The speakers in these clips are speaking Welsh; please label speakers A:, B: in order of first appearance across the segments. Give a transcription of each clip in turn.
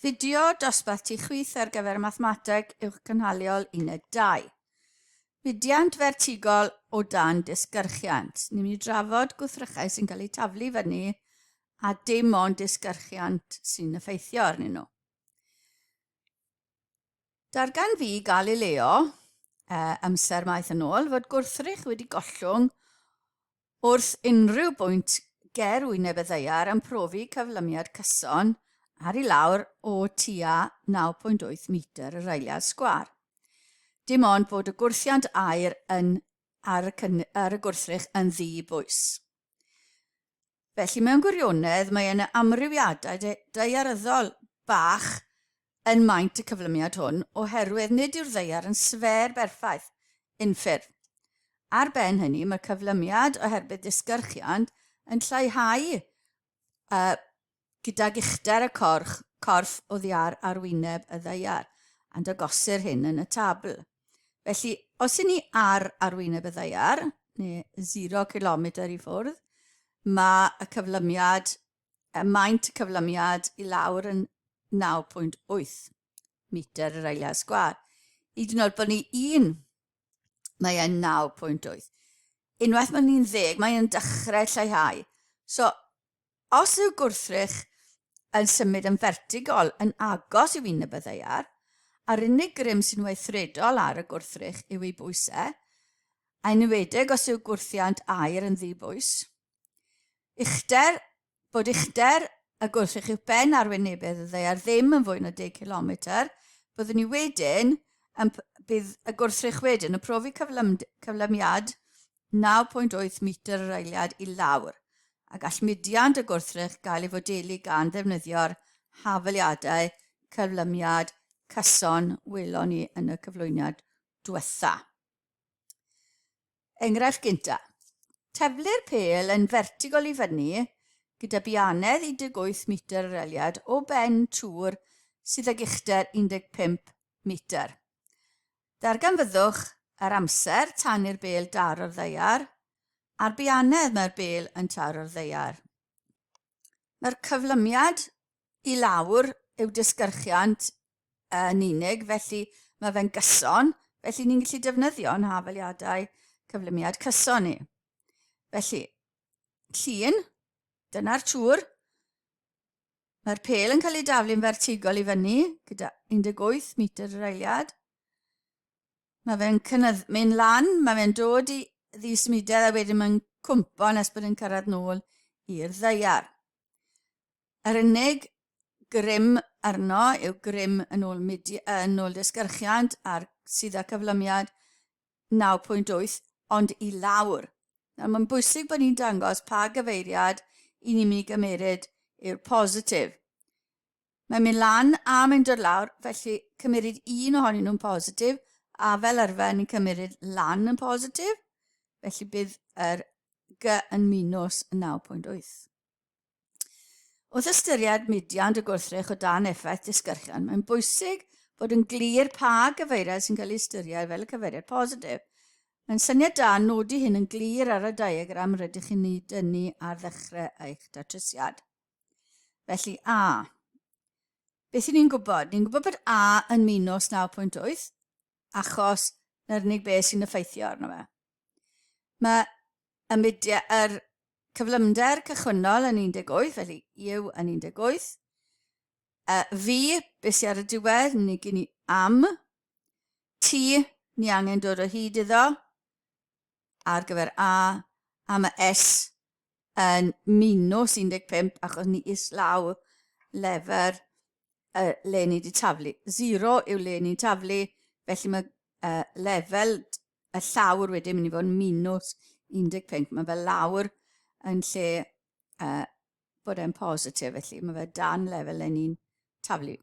A: Fideo dosbarth tu chwith ar gyfer Mathemateg Uwch Gynhaliol Uned 2. Budiant fertigol o dan disgyrchiant. Ni'n mynd i drafod gwthrychau sy'n cael eu taflu fyny a dim ond disgyrchiant sy'n effeithio arnyn nhw. Darganfu Galileo, e, amser maith yn ôl, fod gwrthrych wedi gollwng wrth unrhyw bwynt ger wyneb y ddeiar yn profi cyflymiad cyson ar i lawr o tua 9.8 metr yr eiliad sgwar. Dim ond bod y gwrthiant aer yn ar y, cyn, ar y gwrthrych yn ddi bwys. Felly, mewn gwirionedd, mae yna amrywiadau daearyddol bach yn maint y cyflymiad hwn oherwydd nid yw'r ddaear yn sfêr berffaith, unffurf. Ar ben hynny, mae cyflymiad oherbydd disgyrchiant yn lleihau y Gydag uchder y corch, corff oddiar ar wyneb y ddaear, and agosir hyn yn y tabl. Felly, os y'n ni ar arwyneb y ddaear, neu 0 kilometr i ffwrdd, mae y cyflymiad, y maint y cyflymiad i lawr yn 9.8 metr yr eiliad sgwar. I dyn oed bod ni un, mae e'n 9.8. Unwaith mae ni'n ddeg, mae'n dechrau lleihau. So, Os yw gwrthrych yn symud yn fertigol yn agos i fin y byddeiar, a'r unig grym sy'n weithredol ar y gwrthrych yw ei bwys e, a enwedig os yw gwrthiant aer yn ddi-bwys. Uchder, bod uchder y gwrthrych yw ben arwynebedd y ddeiar ddim yn fwy na 10 cilometr, byddwn ni wedyn yn, bydd y gwrthrych wedyn yn profi cyflymiad 9.8 metr yr eiliad i lawr, a gall mudiant y gwrthrych gael ei fodelu gan ddefnyddio'r hafaliadau cyflymiad cyson welon ni yn y cyflwyniad diwetha. Enghraifft gynta. Teflu'r pêl yn fertigol i fyny gyda bianedd 18 metr yr eliad o ben tŵr sydd ag uchder 15 metr. Darganfyddwch yr amser tan i'r bêl daro'r ddaear, a'r bianedd mae'r bêl yn taro'r ddaear. Mae'r cyflymiad i lawr yw disgyrchiant yn unig, felly mae fe'n gyson, felly ni'n gallu defnyddio'n hafaliadau cyflymiad cyson ni. Felly, llun, dyna'r tŵr, Mae'r pel yn cael ei daflu'n fertigol i fyny, gyda 18 metr yr eiliad. Mae fe'n cynnydd, mynd lan, mae fe'n dod i ddismudedd a wedyn mae'n cwmpo nes bod yn cyrraedd nôl i'r ddeiar. Yr unig grym arno yw grym yn ôl, midi, yn ôl disgyrchiant a'r sydd â cyflymiad 9.8 ond i lawr. Nawr, mae'n bwysig bod ni'n dangos pa gyfeiriad i ni'n mynd i gymeryd yw'r positif. Mae'n mynd lan a mae'n dod lawr, felly cymeryd un ohonyn nhw'n positif, a fel arfer ni'n cymeryd lan yn positif, felly bydd yr G yn minus 9.8. Wrth ystyried mudiant y gwrthrych o dan effaith disgyrchiant, mae'n bwysig bod yn glir pa gyfeiriad sy'n cael ei ystyried fel y cyfeiriad positif. Mae'n syniad da nodi hyn yn glir ar y diagram rydych chi'n ei dynnu ar ddechrau eich datrysiad. Felly A. Beth ni'n gwybod? Ni'n gwybod bod A yn minus 9.8, achos na'r unig beth sy'n effeithio arno fe. Mae y mudiau, yr cyflymder cychwynnol yn 18, felly yw yn 18. Uh, fi, beth sy'n ar y diwedd, ni gyn ni am. Ti, ni angen dod o hyd iddo. ar gyfer A a ma S yn minws 15 achos ni islaw lefer y le ni wedi taflu. 0 yw le ni'n taflu, felly mae uh, lefel y llawr wedyn mynd i fod yn minws 15. Mae fe lawr yn lle uh, bod e'n positif, felly mae fe dan lefel le ni'n taflu.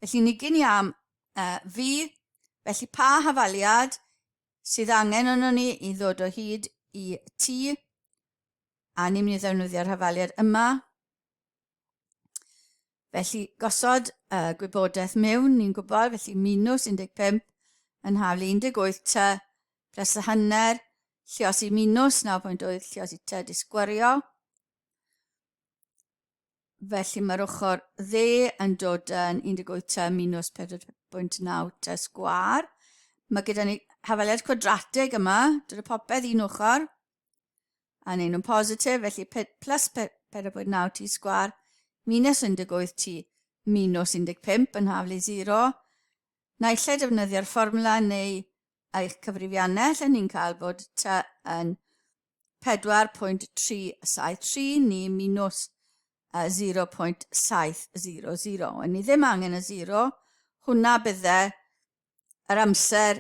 A: Felly ni gyn i am uh, fi, felly pa hafaliad sydd angen arnon ni i ddod o hyd i ti, a ni'n mynd i ddefnyddio'r hafaliad yma. Felly, gosod y gwybodaeth mewn, ni'n gwybod, felly minws 15 yn haflu 18 ty, pres y hanner, lliosi minws 9.8, lliosi ty, disgwario. Felly mae'r ochr dde yn dod yn 18 minus 4.9 te sgwar. Mae gyda ni hafaliad cwadrateg yma, dod y popeth un ochr, a neud nhw'n positif, felly plus 4.9 t sgwar, minus 18 t, minus 15 yn haflu 0. Naill ai defnyddio'r fformwla neu eich cyfrifiannell, a ni'n cael bod t yn 4.373 ni minus 0.700. Yn ni ddim angen y 0, hwnna bydde yr amser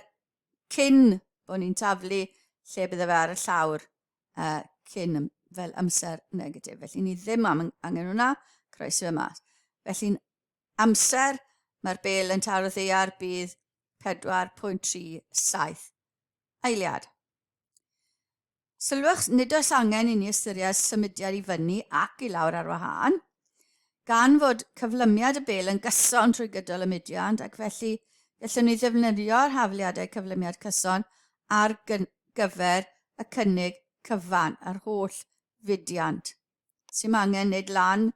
A: cyn bod ni'n taflu lle bydde fe ar y llawr uh, cyn fel amser negatif. Felly ni ddim am angen hwnna, croeso fe mas. Felly'n amser mae'r bel yn taro ddeiar bydd 4.37 Eiliad. Sylwch, nid oes angen i ni ystyried symudiad i fyny ac i lawr ar wahân, gan fod cyflymiad y bel yn gyson trwy gydol y mudiad ac felly gallwn ni ddefnyddio'r hafliadau cyflymiad cyson ar gyfer y cynnig cyfan, yr holl fudiant. Sy'n angen nid lan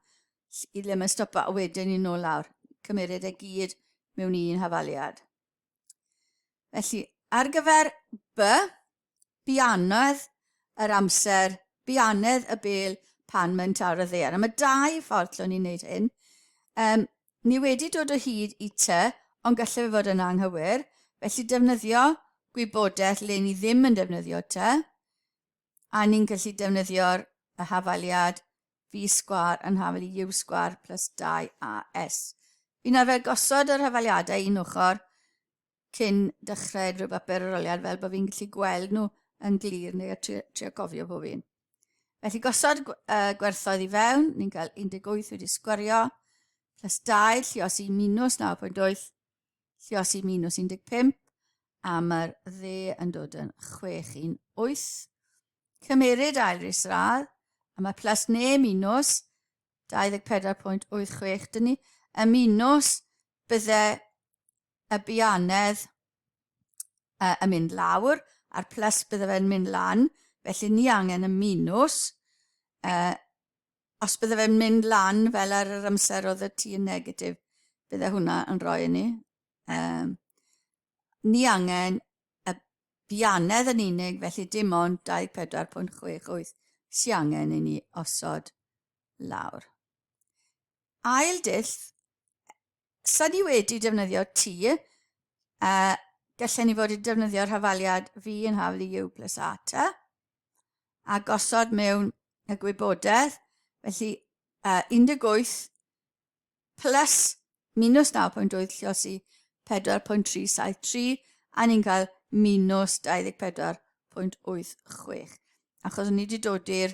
A: i ddim yn stopa a wedyn i nôl lawr. Cymeryd e gyd mewn un hafaliad. Felly, ar gyfer by, bianedd yr amser, bianedd y bel pan mae'n tawr y ddear. A mae dau ffordd lle ni'n gwneud hyn. Um, ni wedi dod o hyd i ty, ond gallai fe fod yn anghywir. Felly defnyddio gwybodaeth le ni ddim yn defnyddio ty. A ni'n gallu defnyddio'r y hafaliad V sgwar yn hafel i U sgwar plus 2AS. Fi'n arfer gosod yr hafaliadau un ochr cyn dechrau unrhyw bapur aroliad fel bod fi'n gallu gweld nhw yn glir neu a trio, trio cofio pob un. Felly gosod uh, gwerthoedd i fewn, ni'n cael 18 wedi sgwario, plus 2, lluosi minus 9.8, Llios i minws 15 a mae'r dde yn dod yn 6 i'n 8. Cymeryd ail ris radd a mae plus ne minws 24.86 dyn ni y minws bydde y bianedd uh, yn mynd lawr a'r plus bydde fe'n mynd lan felly ni angen y minws uh, Os bydde fe'n mynd lan fel ar yr amser oedd y ti yn negatif, bydde hwnna yn rhoi ni. Um, ni angen y bianedd yn unig, felly dim ond 24.68 sy'n angen i ni osod lawr. Ail dull, sa ni wedi defnyddio T, uh, gallen ni fod i defnyddio'r hafaliad V yn haflu U plus A ta. a gosod mewn y gwybodaeth, felly uh, 18 plus minus 9.8 llosi 4.373 a ni'n cael minus 24.86 achos o'n ni wedi dod i'r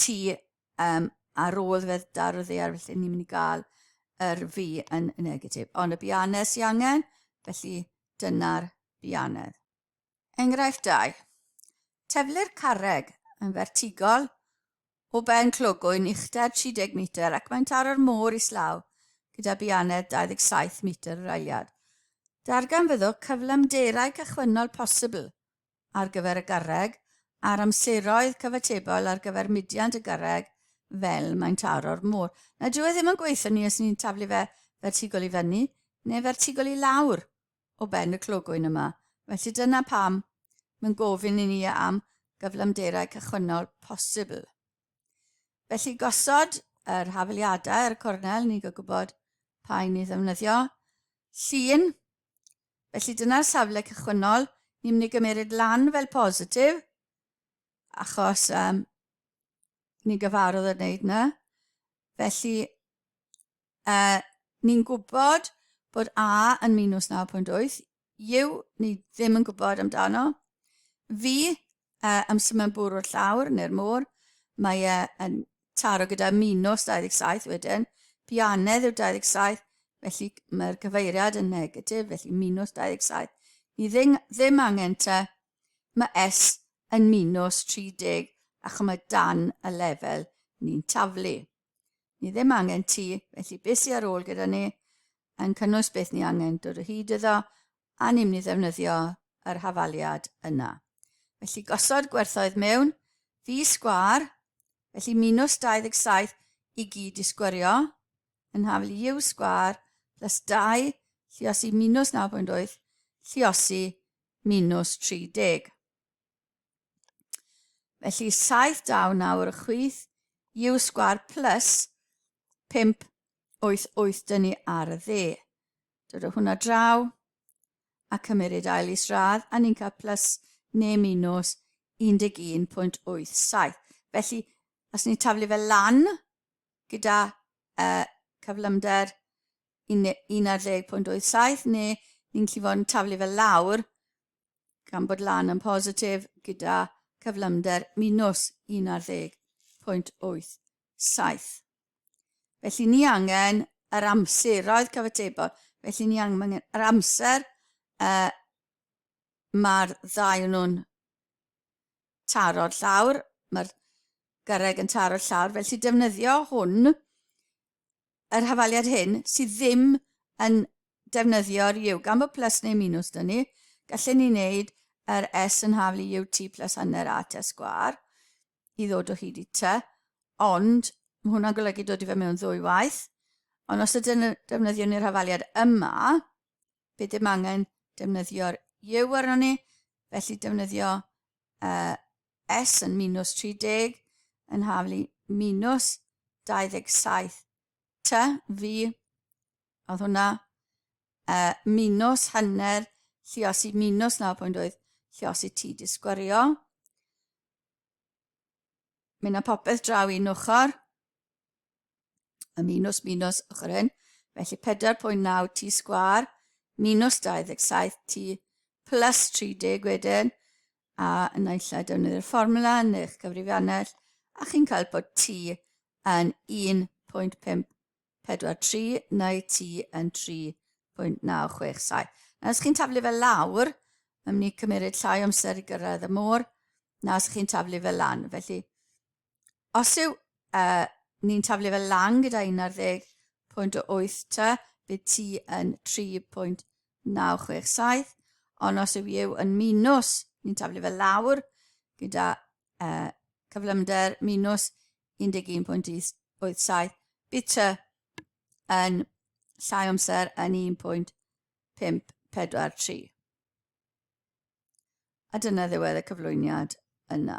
A: tu um, ar ôl fedd dar o ddear felly ni'n mynd i gael yr fi yn y negatif ond y bianedd sy'n angen felly dyna'r bianedd Enghraifft 2. Teflir carreg yn fertigol o ben clogwyn uchder 30 metr ac mae'n taro'r môr islaw gyda bianed 27 metr yr ailiad. Darganfyddwch cyflymderau cychwynnol posibl ar gyfer y garreg a'r amseroedd cyfatebol ar gyfer mudiant y garreg fel mae'n taro'r môr. Na, dyw e ddim yn gweithio ni os ni'n taflu fe fertigol i fyny neu fertigol i lawr. o ben y clogwyn yma. Felly dyna pam mae'n gofyn i ni am gyflymderau cychwynnol posibl. Felly gosod yr hafeliadau ar y cornel, ni'n gwybod pa un i ddefnyddio. Llun, felly dyna'r safle cychwynnol, ni'n mynd i gymryd lan fel positif, achos um, ni'n gyfarwydd yn wneud yna. Felly, Uh, ni'n gwybod bod A yn minus 9.8. Yw, ni ddim yn gwybod amdano. Fi, uh, am symud bwrw'r llawr neu'r môr, mae e yn taro gyda minus 27 wedyn. Bianedd yw 27, felly mae'r gyfeiriad yn negatif, felly minus 27. Ni ddim, ddim angen te, mae S yn minus 30 ac mae dan y lefel ni'n taflu. Ni ddim angen ti, felly beth sydd ar ôl gyda ni yn cynnwys beth ni angen dod o hyd iddo a ni'n mynd i ddefnyddio yr hafaliad yna. Felly gosod gwerthoedd mewn, fi sgwar, felly minus 27 i gyd i sgwario, yn hafel i yw sgwar plus 2, lliosi minus 9.8, lliosi minus 30. Felly 70 nawr y chwith U sgwar plus 5 8 8 dyn ni ar y dde. Dod o hwnna draw a cymryd ail is radd a ni'n cael plus neu minus 11.87. Felly, os ni'n taflu fe lan gyda uh, cyflymder 11.87 neu ni'n gallu fod yn taflu fe lawr gan bod lan yn positif gyda cyflymder minus 11.87. Felly ni angen yr amseroedd cyfatebol, felly ni angen yr amser uh, mae'r ddau nhw'n taro'r llawr, mae'r gyrraeg yn taro'r llawr, felly defnyddio hwn yr hafaliad hyn sydd ddim yn defnyddio'r U. Gan bod plus neu minus dyn ni, gallen ni wneud yr S yn haflu UT plus hanner AT sgwar i ddod o hyd i T, ond mae hwnna'n golygu dod i fe mewn ddwy waith, ond os ydyn defnyddio ni'r hafaliad yma, bydd dim angen defnyddio'r U arno ni, felly defnyddio uh, S yn minws 30, yn haflu minws 27. T, V, oedd hwnna, uh, minws hanner lliosi minws 9.8 lliosi T di sgwario. Mynd â popeth draw un ochr, y minws minws ochr hyn, felly 4.9 T sgwar, minws 27 T plus 30 wedyn, a naill ai defnyddio'r fformwla yn eich cyfrifiannell a chi'n cael bod T yn 1.543 neu T yn 3.967. Nawr, os chi'n taflu fel lawr, mae'n mynd i cymeryd llai o amser i gyrraedd y môr na os chi'n taflu fel lan. Felly, os yw uh, ni'n taflu fel lan gyda 11.8 ta, bydd ti yn 3.967, ond os yw yw yn minus, ni'n taflu fel lawr gyda uh, cyflymder minus 11.87, bydd ty yn llai amser yn 1.543. A dyna ddiwedd y cyflwyniad yna.